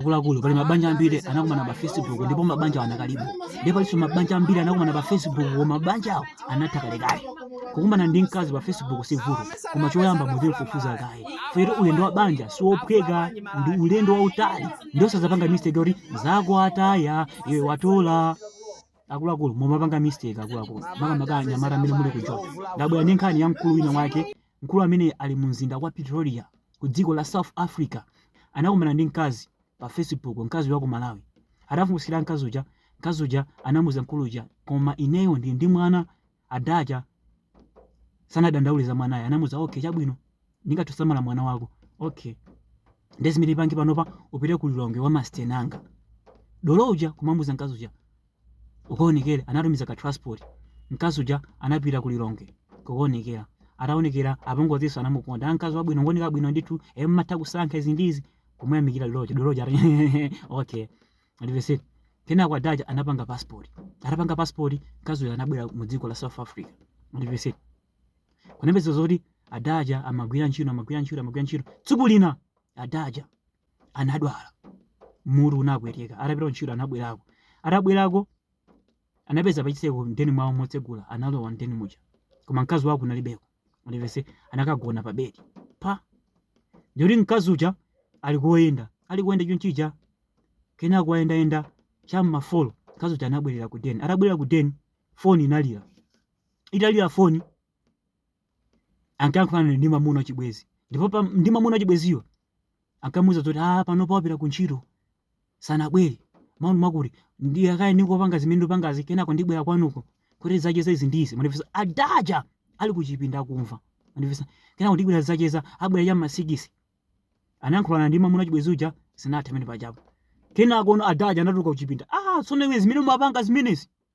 akuluakulu pali mabanja ambiri anakumana pa facebook ndipo mabanja anakalipo ndipo palinso mabanja ambiri anakumana pa facebook koma mabanja awo anatha kalekale kukumana ndi mkazi pa facebook si vuto koma choyamba muzimufufuza kaye first ulendo wa banja siwophweka ndi ulendo wautali nde osazapanga mistake yoti anzako ataya iwe watola akuluakulu mumapanga mistake akuluakulu makamaka anyamata amene muli ku joni ndabwera ndi nkhani ya mkulu wina wake Mkulu amene ali mu mzinda wa Pretoria ku dziko la South Africa anakumana ndi mkazi pa Facebook, mkazi uyu wa ku Malawi. Atafunsira mkazi uja, mkazi uja anamuza mkulu uja, koma ineyo ndili ndi mwana, adaja sanadandaule za mwanayo, anamuza okay, chabwino ndingathe kusamala mwana wako okay, nde zimene upange panopa upite ku Lilongwe kwa masteni anga. Dolo uja kumamuza mkazi uja, Ukaonekere anatumiza ka transport mkazi uja anapita ku Lilongwe kukaonekera ataonekera apongozinso anamukonda "Ah, mkazi wabwino ngooneka bwino ndithu e mumatha kusankha izi ndi izi kumuyamikira dolo uja dolo uja ati, okay mundimvetse kenako adaja anapanga passport atapanga passport mkazi uyu anabwera mu dziko la south africa mundimvetse kunapezeka zoti adaja amagwira ntchito amagwira ntchito amagwira ntchito tsiku lina adaja anadwala mutu unapweteka atapita kuntchito anabwerako atabwerako anapeza pachitseko mden mwawo motsegula analowa mden muja koma mkazi wake kunalibeko mundimvetse anakagona pa bedi paja ndi kuti mkazi uja ali kuyenda ali kuyenda chonchija kenako atayendayenda cha m'ma folo mkazi uja anabwerera ku den atabwerera ku den foni inalira italira foni ankayankhulana ndi mamuna wachibwenzi ndipo pa- ndi mamuna wachibwenziyo ankamuuza zoti a panopa apita ku ntchito sanabwere mumakuti nde kaya ndingopanga zimene ndipangazi kenako ndibwera kwanuko kuti tizacheze izi ndi izi mundimvetse adaja ali kuchipinda akumva mundimvetse kenako ndibwera tizacheza ndibwera cha masikisi anayankhulana ndi mamuna wachibwenzi uja zinatha mmene pajapo kenakono adaja anatuluka kuchipinda ah tsono iwe zimene mumapanga zimenezi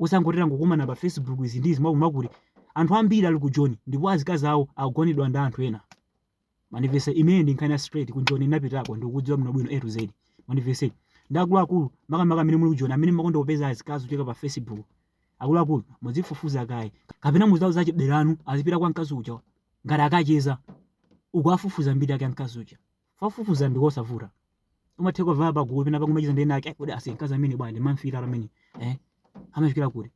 osangoti tangokumana pa facebook izi ndi izi mwakuti anthu ambiri ali ku joni ndipo azikazi awo akugonedwa ndi anthu ena mundimvetse imeneyi ndi nkhani ya straight ku joni ndinapitako ndikukudziwa bwino bwino a to z mundimvetse nde akuluakulu makamaka amene muli ku joni amene mumakonda kupeza azikazi kuchokera pa facebook akuluakulu muzifufuza kaye kapena muziwauza achibale anu azipita kwa mkazi uja ngati akacheza uku akufufuza mbiri yake ya mkazi uja Kufufuza ndi kosavuta. Umatha kufika pa gulu pena nkumacheza ndi winawake kodi aise mkazi ameneyu bwanji ndimamfuna ameneyu. Eh? Amachokera kuti.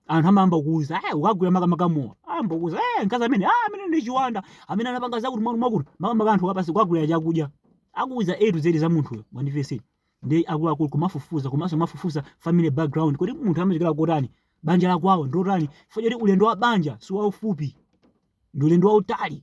Anthu amayamba kukuuza, eh ukagwira makamaka mowa. Ayamba kukuuza, eh mkazi amene, ah amene ndi chiwanda, amene anapanga zakuti mwa mwakuti, makamaka anthu ukawapatsa kuwagulira chakudya. Akuuza A to Z za munthu uyo, mundimvetse. Nde akuluakulu kumafufuza, komanso kumafufuza family background. Kodi munthu amachokera kotani? Banja la kwawo ndotani? Chifukwa choti ulendo wa banja si waufupi. Ndi ulendo wautali.